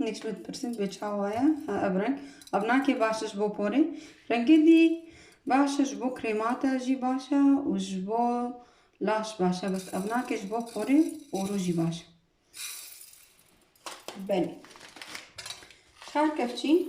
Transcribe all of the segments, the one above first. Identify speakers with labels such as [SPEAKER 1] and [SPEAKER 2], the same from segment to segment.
[SPEAKER 1] Hiç mi dipirsîn bê çawa ye? Ha ev reng. Ev nakê baş ji bo porê. Rengê dî baş e ji bo krêmate jî baş e û ji bo laş baş e. Bes ev nakê ji bo porê û rojî baş e. Belê. Çar kevçî.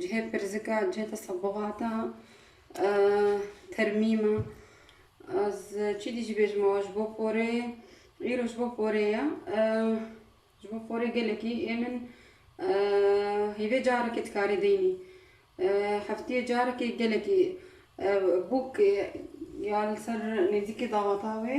[SPEAKER 1] Cihê pirsika cihê tesebûxata termîm e. Ez çîdî jî bêjim awa ji bo porê îro ji bo porê ye. Ji bo porê gelekî ê min hêvê carekê dikarî deynî. Heftiyê carekê gelekî bûk ya li ser nêzîkê dawata wê.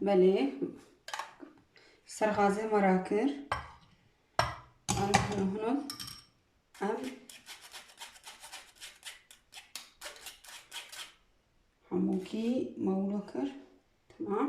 [SPEAKER 1] Belê ser xazê me ra kir. Em hino hino em hemûkî mewlo kir. Tamam.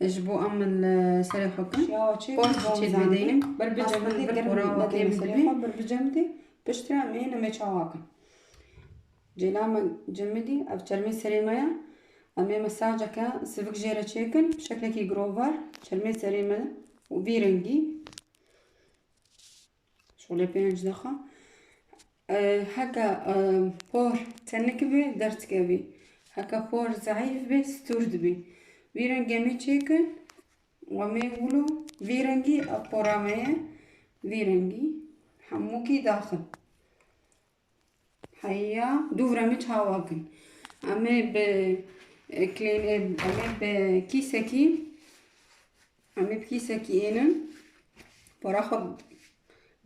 [SPEAKER 1] Ji bo em li serê xwe kin. Ya çêk Xwe bom çêk zanî. bideynin. Bir bi cem Aslında de bir kora germ nedeyne temiz serê değil. xwe bir bi cem de piştre em ê nemê çawa kin. Cêla me cemê dî ev çermê serê me ya. Em ê mesajeke sivik jê re çêkin bi şeklekî girovar çermê serê me û vî rengî Şolê pênc daxa heke por tenik bê derdikevî. Heke por zayîf bê stûr dibî. Vî rengê me çêkin we mê wilo vî rengî ev pora me ye vî rengî hemûkî daxin. Heya du vremê çawa kin. Em ê bi klên em ê bi kîsekî em ê bi kîsekî ênin para xwe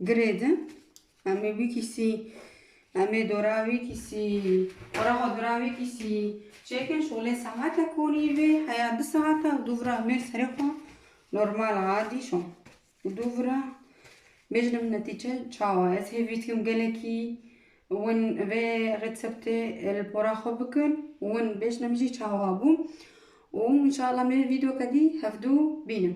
[SPEAKER 1] girê di. Em ê wî kîsî em ê dora wî kîsî para xwe dora wî kîsî çêkin şolê saete konî vê heya du saete û du vremê serê xwe normal adî şo. Û dû vira bêjnim netîce çawa. Ez hêvî dikim gelekî win vê retseptê li pora xwe bikin û win bêjnim jî çawa bû. Û înşeallah me vîdeoke dî hevdu bînin.